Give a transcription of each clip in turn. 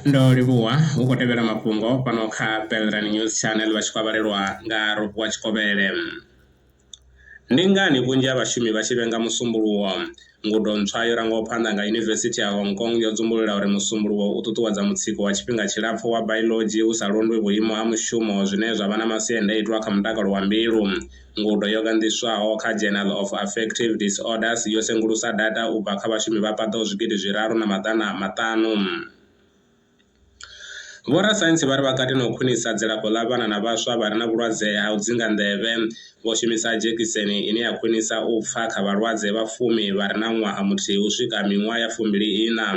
ndo livhuwa hu khou tevhela mafhungo fhano kha belran news channel vha tshi khou avhalelwa nga robuwa tshikovhele ndi ngani vhunzhi ha vhashumi vha tshi vhenga musumbuluwo ngudo ntswa yo rangaho phanḓa nga yunivesithi ya hong kong yo dzumbulula uri musumbuluwo u ṱuṱuwedza mutsiko wa tshifhinga tshilapfu wa bailodzhi hu sa londwi vhuimo ha mushumo zwine zwa vha na masiandaitwa kha mutakalo wa mbilu Ngudo yo ganḓiswaho kha Journal of Affective Disorders yo sengulusa data u bva kha vhashumi vha paḓaho zwigidi zwiraru na maḓana maṱanu. Vhorasaintsi vha ri vha kati na u khwinisa dzilafho ḽa vhana na vhaswa vha re na vhulwadze ha u dzinga nḓevhe vho shumisa dzhekiseni ine ya khwinisa u pfa kha vhalwadze vha fumi vha re na ṅwaha muthihi u swika miṅwaha ya fumbili-iṋa.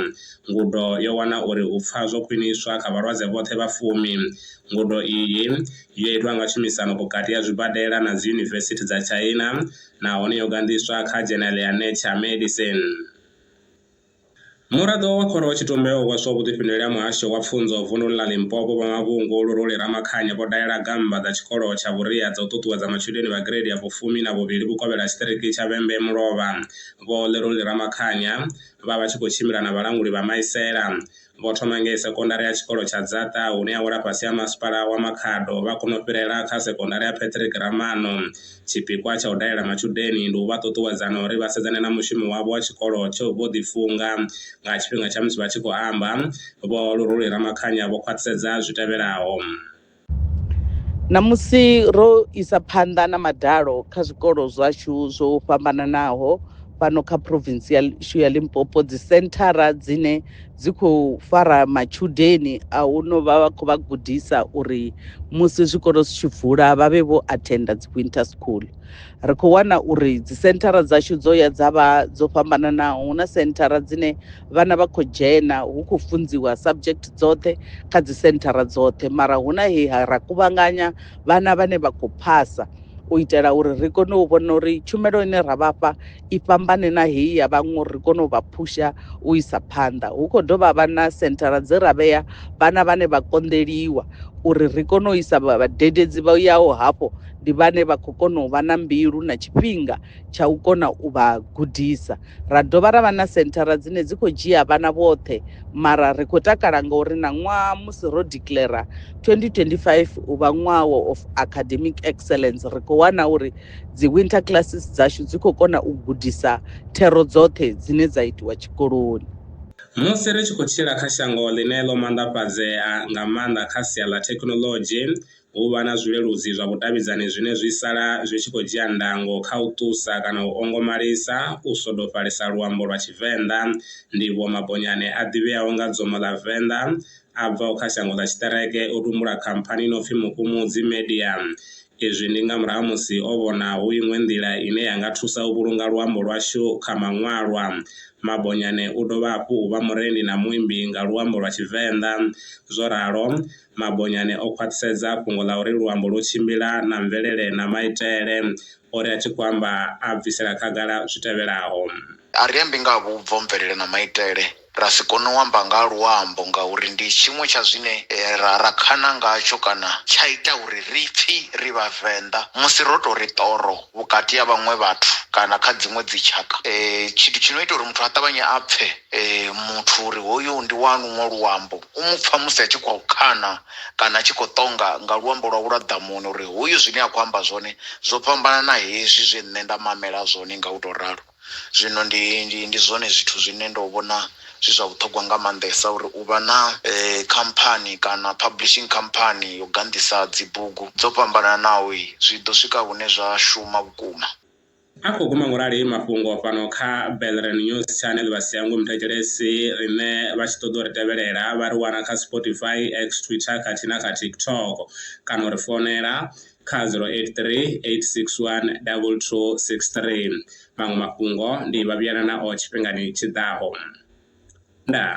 Ngudo yo wana uri u pfa zwo khwiniswa kha vhalwadze vhoṱhe vha fumi. Ngudo iyi Yo itwa nga tshumisano vhukati ha zwibadela na dziyunivesithi dza China nahone yo ganḓiswa kha dzhenele ya Nature Medicine. Muraḓo wa Khoro Tshitumbe o hweswa vhuḓifhinduleli ha Muhasho wa Pfunzo vunḓuni ḽa Limpopo Vho Mavhungu Luruli Ramakhanya vho dalela gammba dza tshikolo tsha vhuria dza u ṱuṱuwedza matshudeni vha gireidi ya vhufumi na vhuvhili vhukovhela ha tshiṱiriki tsha Vhembe Mulovha Vho Luruli Ramakhanya vha vha tshi khou tshimbila na vhalanguli vha Maisela vho thoma ngei sekondari ya tshikolo tsha Dzaṱa hune ya wela fhasi ha Masipala wa Makhado vha kona u fhirela kha sekondari ya Patrick Ramano. Tshipikwa tsha u dalela matshudeni ndi u vha ṱuṱuwedza na uri vha sedzane na mushumo wavho wa tshikolo tsho vho ḓifunga. Nga tshifhinga tsha musi vha tshi khou amba, Vho Luruli Ramakhanya vho khwaṱhisedza zwi tevhelaho. Ṋamusi ro isa phanḓa na madalo kha zwikolo zwashu zwo fhambananaho fhano kha province yashu ya Limpopo dzi senthara dzine dzi khou fara matshudeni a hu no vha vha khou vha gudisa uri musi zwikolo zwi tshi vula vha vhe vho athenda dzi winter school ri khou wana uri dzi senthara dzashu dzo ya dza vha dzo fhambananaho hu na senthara dzine vhana vha khou dzhena hu khou funziwa subject dzoṱhe kha dzi senthara dzoṱhe mara hu na he ra kuvhanganya vhana vhane vha khou phasa u itela uri ri kone u vhona uri tshumelo ine ra vhafha i fhambane na heyi ya vhaṅwe uri ri kone u vha phusha u isa phanḓa hu khou dovha vha na senthara dze ra vhea vhana vhane vha konḓeliwa uri ri kone u isa vhadededzi vha yaho hafho ndi vhane vha khou kona u vha na mbilu na tshifhinga tsha u kona u vha gudisa Ra dovha ra vha na senthara dzine dzi khou dzhia vhana vhoṱhe mara ri khou takala ngauri na ṅwaha musi ro declara 2025 u vha ṅwaha wa of academic excellence ri khou wana uri dzi winter classes dzashu dzi khou kona u gudisa thero dzoṱhe dzine dza itiwa tshikoloni. Musi ri tshi khou tshila kha shango ḽine ḽo manḓafhadzea nga maanḓa kha sia ḽa thekhinoḽodzhi, U vha na zwileludzi zwa vhudavhidzani zwine zwi sala zwi tshi khou dzhia ndango kha u ṱusa kana u ongomalisa u swodofhalisa luambo lwa Tshivenḓa. Ndivhuwo Mabonyane a ḓivheaho nga Dzomo ḽa Venḓa a bvaho kha shango ḽa Tshiṱereke o tumbula khamphani i no pfi Mukumudzi Media. Izwi ndi nga murahu ha musi o vhona hu iṅwe nḓila ine ya nga thusa u vhulunga luambo lwashu kha maṅwalwa. Mabonyane u dovha hafhu u vha murendi na muimbi nga luambo lwa Tshivenḓa. Zwo ralo, Mabonyane o khwaṱhisedza fhungo ḽa uri luambo lwo tshimbila na mvelele na maitele. O ri a tshi khou amba a bvisela khagala zwi tevhelaho. A ri ambi nga ha vhubvo, mvelele na maitele ra si kone u amba nga ha luambo ngauri ndi tshiṅwe tsha zwine ra ra khana ngatsho kana tsha ita uri ri pfi ri Vhavenḓa musi ro tou ri ṱoro vhukati ha vhaṅwe vhathu kana kha dziṅwe dzitshaka. Tshithu tshi no ita uri muthu a ṱavhanye a pfe muthu uri hoyu ndi wa luṅwe luambo. U mu pfa musi a tshi khou kana kana a tshi khou ṱonga nga luambo lwawe lwa ḓamuni uri hoyu zwine a khou amba zwone zwo fhambana na hezwi zwe nṋe nda mamela zwone nga u tou ralo. Zwino ndi, ndi, ndi zwone zwithu zwine ndo vhona zwi zwa vhuṱhogwa nga maanḓesa uri u vha na khamphani kana publishing company yo ganḓisa dzibugu dzo fhambananaho zwi ḓo swika hune zwa shuma vhukuma. A khou guma ngorali mafhungo fhano kha Belren News Channel vha sia ngomu thetshelesi riṋe vha tshi ṱoḓa uri tevhelela vha ri wana kha Spotify, X, Twitter khathihi na kha TikTok kana uri founela kha 0838612263. Maṅwe mafhungo ndi vha vhuyelanaho tshifhingani tshi ḓaho. Ndaa.